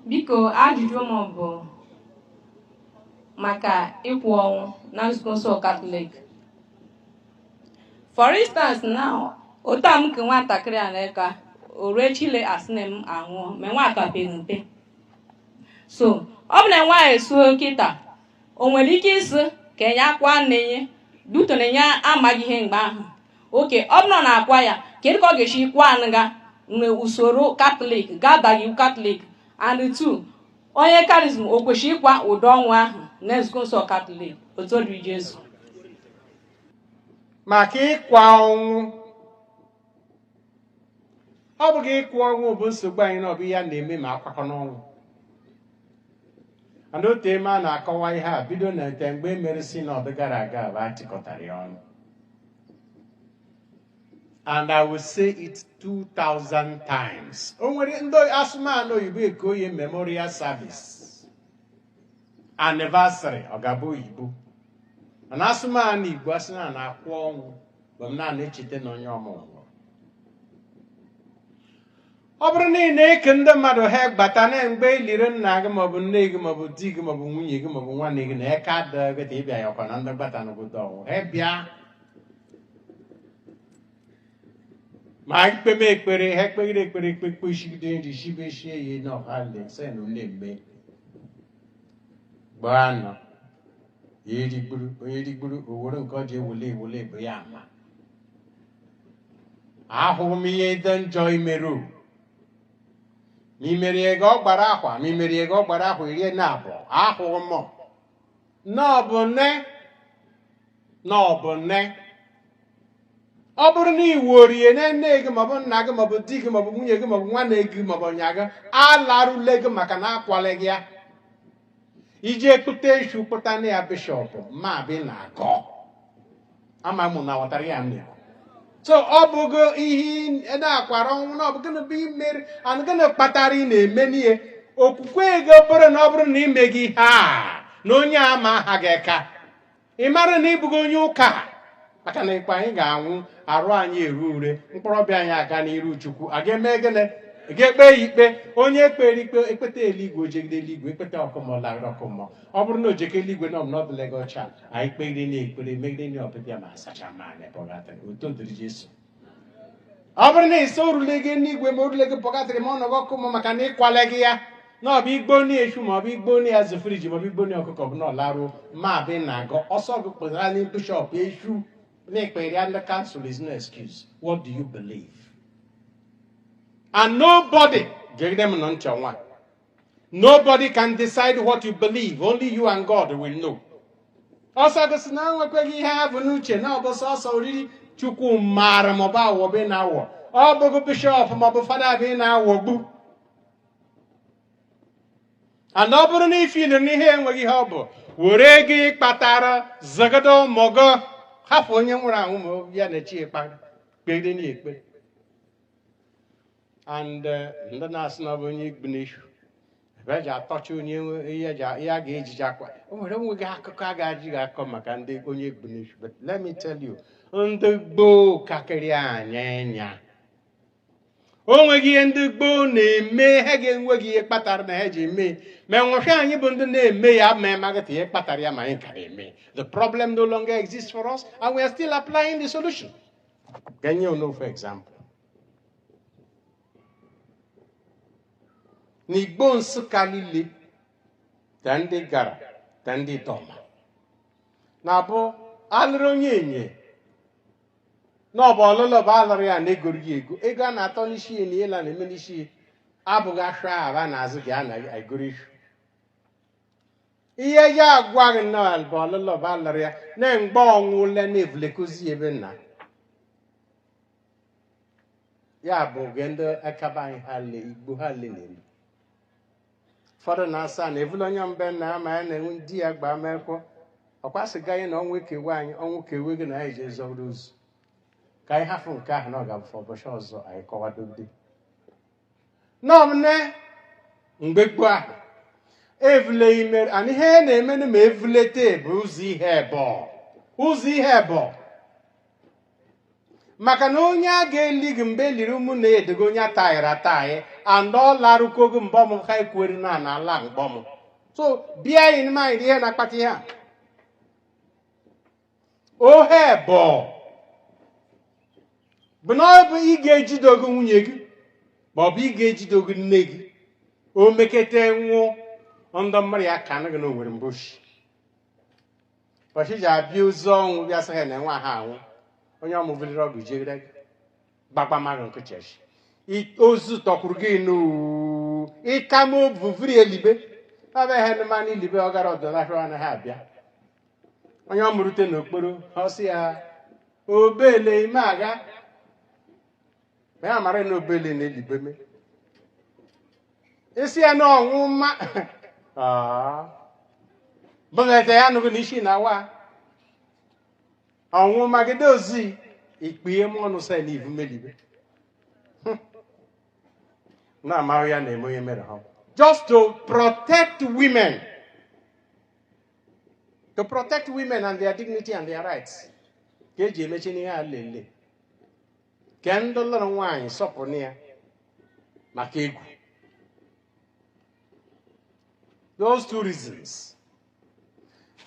Biko ajụjụ m bụ maka ịkwa ọnwụ na nzukọ nsọ Katọlik. For instance now, otu a m ku nwatakịrị a n'eka o rue echi le a sị na m anwụọ ma nwa a ka pere mpe so ọ bụ na nwa esuo kịta o nwere ike ịsị ka enye akwa nne nye due to na ya amaghị ihe mgbe ahụ okay ọ bụrụ na akwa ya kedu ka ọ ga-esi kwa nga na usoro katọlik ga-adaghị iwu katọlik and two onye charism o kwesịrị ịkwa ụdị ọnwụ ahụ na nzukọ nsọ katọlik otito dịrị jesu maka ịkwa ọnwụ ọ bụghị ịkwa ọnwụ bụ nsogbu anyị na ọ bụ ihe a na-eme ma akwakọ n'ọnwụ and otu eme a na-akọwa ihe a bido na ete mgbe e mere sinọd gara aga bụ a chịkọtara ya ọnụ and I will say it 2000 times. O nwere ndị a sụma n'oyibo e kuo ye Memorial Service anniversary ọ ga-abụ oyibo and a sụma n'Igbo a sị na a na-akwa ọnwụ bụ m na-echeta na onye m nwụrụ ọ bụrụ na ị na-eku ndị mmadụ ha gbata na mgbe e liri nna gị maọbụ nne gị maọbụ di gị maọbụ nwunye gị maọbụ nwanne gị na ike adịghị gị ịbịa ya ọkwa na ndị gbata n'obodo ọwụ ha bịa ma ekpeme ekpere ha ekpegide ekpere ekpe ekpe shigide nri shibeshie ya n'ọha le sị na ụlọ mme gbaa nọ ya erigburu onye erigburu o nwere nke ọ ji ewule ewule bụ ya ama ahụghị m ihe dị njọ i mere ma i mere ya oge ọ gbara ahọ ma i mere ya oge ọ gbara ahọ iri na abụọ ahụghị m na ọ bụ nne na ọ bụ nne ọ bụrụ na i woro ye na nne gị maọbụ nna gị maọbụ di gị maọbụ nwunye gị maọbụ nwanne gị maọbụ onye gị alaruleghị maka na akwaleghị ya i je kpụta eshu kpụta ịnyịnya bishọp ma bi na-agọ ama m ụnụ ghọtara ya mmiri so ọ bụghị ihi na a kwara ọnwụ na ọ bụ gịnị bụ ihe i mere and gịnị kpatara ị na-eme n'ihe okwukwe gị bụrụ na ọ bụrụ na i meghị ihe a na onye a ma aha gị eka ị mara na ị bụghị onye ụka maka na ịkpa anyị ga-anwụ arụ anyị eru ure mkpụrụ obi anyị aga n'iru chukwu a ga-eme gịnị a ga-ekpe ya ikpe onye e kpere ikpe ekpeta eluigwe o jere eluigwe ekpeta ọkụ mmụọ ọ lara ọkụ mmụọ ọ bụrụ na o jekọ eluigwe na ọ dịleghị ọcha anyị kpegide na ekpere megide na ọpịpịa ma a sachama ya na pọgatọrị otito dịrị jesu ọ bụrụ na ị sị orule gị n'igwe ma orule gị purgatory ma ọ nọgọ ọkụ ma maka na ịkwale gị ya na ọ bụ igbuni eshu ma ọ bụ igbuni azụ friji ma ọ bụ igbuni ọkụkọ bụ na ọ larụ ma bụ na agọ ọsọ gị kpụtara na bishọp eshu na ekpere ya ndị kansụl is no excuse what do you believe and nobody ga-egide m nọ nchọ nwa Nobody can decide what you believe. Only you and God will know. ọsọ gị sị na enwekweghị ihe ha bụ n'uche na ọ bụ sọsọ oriri chukwu maara maọbụ awọ bụ ị na-awọ ọ bụghị bishọp maọbụ fada bụ ị na-awọgbu and ọ bụrụ na i feel na ihe enweghị ihe ọ bụ were ego ị kpatara zụgodu ụmụ gụ hafụ onye nwụrụ anwụ ma ya na chi e kpere kpere na ekpere and eh, ndị na-asị na ọ bụ onye egbuni eshu ebe eji atọcha onye nwe- ihe eji a- ihe a ga-ejiji akwa o nwere nweghị akụkọ a ga-ejiji akọ maka ndị onye egbuni eshu but let me tell you ndị gboo kakịrị anyị anya o nweghị ihe ndị gboo na-eme ha ga-enweghị ihe kpatara na ha ji eme ma enwefe anyị bụ ndị na-eme ya ma amaghịta ihe kpatara ya ma anyị ka na-eme the problem no longer exists for us and we are still applying the solution ka m nye unu ofu example n'igbo nsụka niile ta ndị igara ta ndị idoma na-abụ alụrụ onyenye na ọ bụ ọlụlụ bụ alụrụ ya na-egoro ya ego ego a na-atọ n'isi ya na ihe ile a na-eme n'isi ya abụghị ashụa bụ a na-azụ gị a na-egoro ihu ihe eji agwa gị na bụ ọlụlụ bụ alụrụ ya na mgbe ọ nwụle na-evulekozi ya be nna ya bụ oge ndị aka be anyị ha le igbo ha le na-eme ụfọdụ na-asị na evule onye be nna ya ma ya na-enwe di ya gbaa mekwọ ọkwa sịga anyị na ọnwụ kewe anyị ọnwụ kewe gịnị anyị ji zọrọ ozu ka anyị hafụ nke ahụ na ọ ga-abụ ụbọchị ọzọ anyị kọwadode nọmne mgbe gboo ahụ evule ime and ihe na-emenụ ma evulete bụ ụzọ ihe ebọ ụzọ ihe ebọ maka na onye a ga-eli gị mgbe eliri ụmụnne ya dị ka onye ataghịrị ataghị and ọ larụkwa ogo mgbe ọmụ ha ekwueri na na ala mgbe ọmụ so bear in mind ihe na-akpata ihe a ọ ihe ebọ bụ na ọ bụ ị ga-ejide ụgwọ nwunye gị ma ọ bụ ị ga-ejide ụgwọ nne gị o mekete nwụọ ndị mụrụ ya kaanụ gị na o nwere mbọshị bọchị ji abịa ozu ọnwụ bịa sị ha na nwa ha anwụ onye ọmụ vuliri ọgụ jere gbagba mmadụ nkụchechi ozu tọkwuru gị n'uu ịka m obuvuri elibe ọbịa ihe ndị mmanụ elibe ọ gara ọdọ n'ahịa anaghị abịa onye ọmụ rute n'okporo ọ sị ya obele ime aga ma ya mara na obele na elibe me isi ya na ọnwụ mma bụlete ya nụgo na isi na awa ọnwụ mma gị dozi ikpee m ọnụ sa na ivu m elibe na amaghị ya na-eme onye mere ha just to protect women to protect women and their dignity and their rights ka e ji emechi n'ihe a lele Kee ndị lụrụ nwaanyị sọpụrụ ya maka egwu. Those two reasons.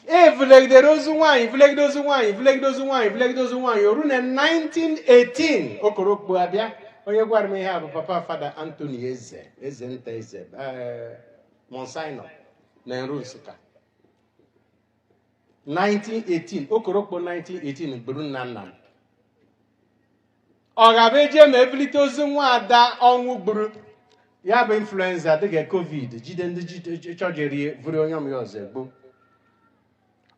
E vulegidere ozu nwaanyị vulegide ozu nwaanyị vulegide ozu nwaanyị vulegide ozu nwaanyị o ru na 1918 okorokpo abịa onye gwara m ihe a bụ papa fada Anthony Eze Eze Nta Eze eh, Monsignor na Nru Nsụka 1918 okorokpo 1918 gburu nna nna m ọ ga-abụ eje ma evulite ozu nwa ada ọnwụ gburu ya bụ influenza dịka covid jide ndị chọjeri vuru onye ọmụ ya ọzọ egbu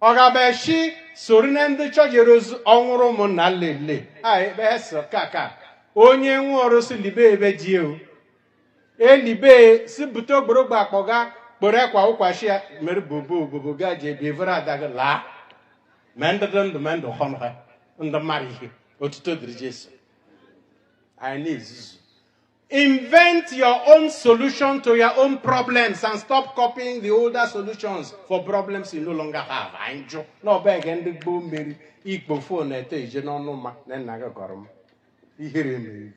ọ ga-abụ eshi soro na ndị chọjere ozu anwụrụ ụmụnna lele a ebe ha sọ ka ka onye nwe ọrụ sị elibe ebe ji ewu elibe sị bute ogborogbo akpọga kporo ekwa ụkwachi ya mere bobo obobo ga ji ebi evuru ada gị laa ma ndị dị ndụ ma ndụ họnụ ha ndị mmadụ ihe otito dịrị jesu anyị na-ezuzu invent your own solution to your own problems and stop copying the older solutions for problems you no longer have anyị jụ na ọ bụ ege ndị gboo meri i kpo fon na-eto ije n'ọnụ mma na nna gị gọrọ m ihere mere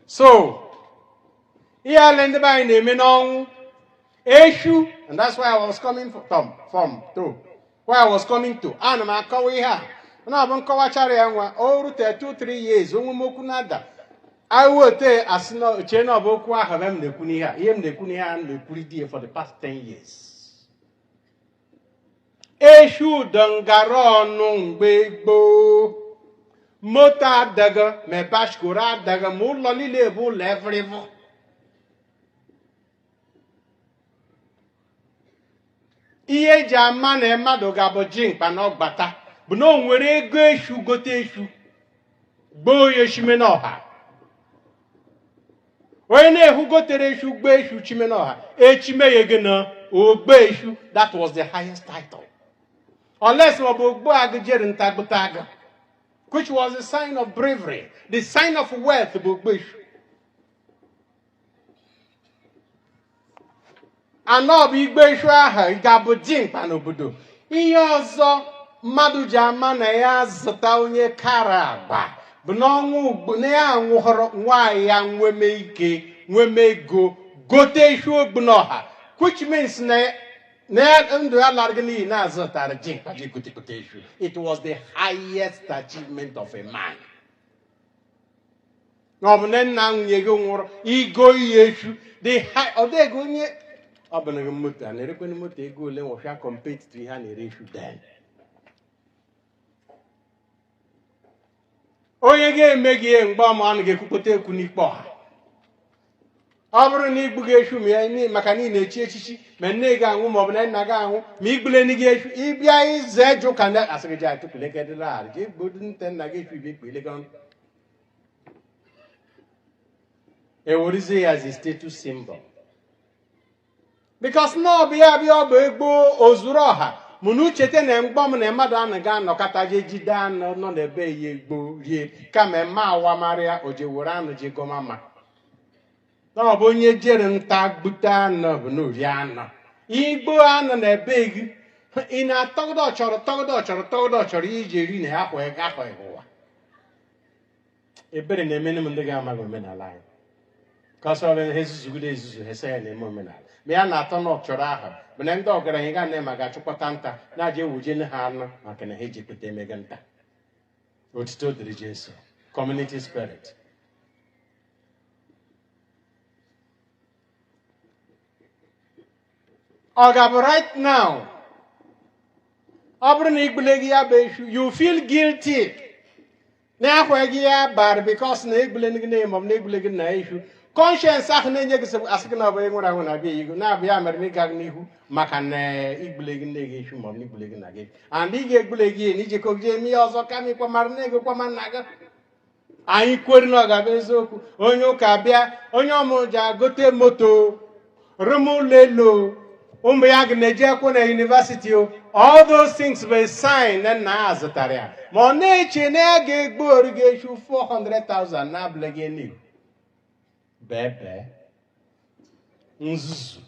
so ihe ale ndị be anyị na-eme n'ọnwụ eshu and that's why I was coming from from to why I was coming to ana m akọwa ihe a na ọ bụ m kọwachara ya nwa o rute 2 3 years onwe m okwu na-ada awote a sị na ochie na ọ bụ okwu ahụ ebe m na-ekwu n'ihe a ihe m na-ekwu n'ihe a m na-ekwuri di ya for the past 10 years eshu dị ngara ọnụ mgbe gboo moto adịghị ma bashkoro adịghị ma ụlọ niile bụ ụlọ evurivu ihe e ji ama na mmadụ ga-abụ dimkpa na ọgbata bụ na o nwere ego eshu gote eshu gbuo ya eshime n'ọha onye na-ehu gotere eshu gbuo eshu chime n'ọha echime ya gị na ogbu eshu that was the highest title unless ọ bụ ogbu agụ jere nta gbute agụ which was a sign of bravery the sign of wealth bụ ogbu eshu anọ bụ igbu eshu ahụ ga-abụ jimkpa n'obodo ihe ọzọ mmadụ ji ama na ya zụta onye kara agba bụ n'ọnwa ugbo na ya nwụhọrọ nwaanyị ya nweme ike nweme ego gote eshu ogbu n'ọha which means na ndụ ya alaragị n'iyi na-azụtara jimkpa ji gotekọta eshu it was the highest achievement of a man na ọ bụ na nna nwunye gị nwụrụ igo iyi eshu dị ha ọ dị ego onye ọ bụ na gị moto a na-erekwana moto ego ole nwọfịa compared to ihe a na-ere eshu then onye ga-eme gị ihe mgbe ọma ọ na ga-ekwukpọta ekwu n'ikpe ọha ọ bụrụ na igbugị eshu ma ya ni- maka na ị na-echi echichi ma nne gị anwụ ma ọ bụ na nna gị anwụ ma igbule nne gị eshu ịbịa ize jụ ka ndị asị gị ji atụpụlegedịla ala ji igbu nte nna gị eshu ibe ikpe ilega ọnụ ewerizie ya as a status symbol because na ọ bụ ya bịa ọ bụ egbuo ozuru ọha mụ na-echete na mgbọ m na mmadụ anaghị anọkata je jide anụ nọ na be ya gbuo rie kama eme awamarịa o je were anụ je goma ma na ọ bụ onye jere nta gbute anụ bụ na ori anụ igbuo anụ na be gị ị na-atọgide ọchọrọ tọgide ọchọrọ tọgide ọchọrọ iji eri na ya kwa ịga kwa ịhụ ebere na-emene m ndị ga-amaghị omenala anyị ka ọ sọrọ ihe zuzugide ezuzu ha sị ya na-eme omenala ma ya na-atọ na ọchọrọ ahụ mana ndị ọgaranya ga na-ema ga-achụkọta nta na-aja ewujene ha anụ maka na ha ejikọta emega nta otito dịrị jesu community spirit ọ ga-abụ right now ọ bụrụ na igbuleghị ya bụ eshu you feel guilty na-ekweghị ya bara because na egbule gị na ma ọ bụ na egbule gị nna eshu conscience ahụ na-enye gị sịbụ asị gị na ọ bụ onye nwere anwụ na-abịa ihu na ọ bụ ya mere na ịgagị n'ihu maka na igbule gị nne gị eshu maọbụ na igbule gị nna gị and ị ga-egbule gị na ijekọ gị eme ihe ọzọ kama ịkwa mara na ego kwama nna gị anyị kwere na ọ ga-abụ eziokwu onye ụka bịa onye ọmụrụ ji agote moto Rụma ụlọ elu, ụmụ ya ga na-eje akwụkwọ na University, all those things were sign na nna ya zụtara ya. Ma ọ na-eche na ya ga-egbuoro gị eshu 400,000 na ọ bụ ịla ego n'iyi. Bebe. Nzuzu.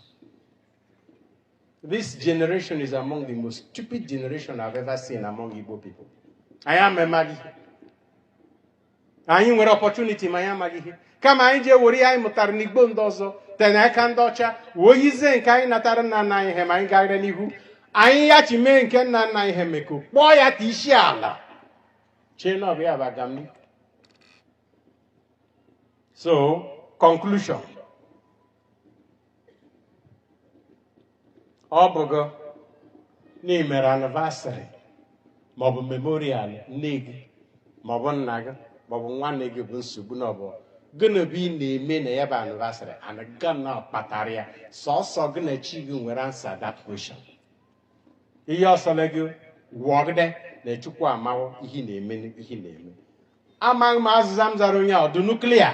This generation is among the most stupid generation I've ever seen among Igbo people. Anyị amaghị. anyị nwere opportunity ma anyị amaghị ihe kama anyị ji ewere ihe anyị mụtara n'igbo ndị ọzọ te n'aka ndị ọcha wee yizie nke anyị natara nna nna anyị ha ma anyị gara n'ihu anyị ya chi mee nke nna nna anyị ha meko kpọọ ya ka isi ala chee na ọ bụ ya bụ agamnihu so conclusion ọ bụghọ na ị mere anniversary maọbụ memorial nne gị maọbụ nna gị maọbụ nwanne gị bụ nsogbu na ọbụ gịnị bụ ihe ị na-eme na ya bụ anniversary and gịnị kpatara ya sọsọ gị na chi gị nwere answer that question ihe ọ sọla gị wụọgide na chukwu amawo ihe ị na-eme ihe ị na-eme amaghị m ma azịza m zara onye a ọ dụ unu clear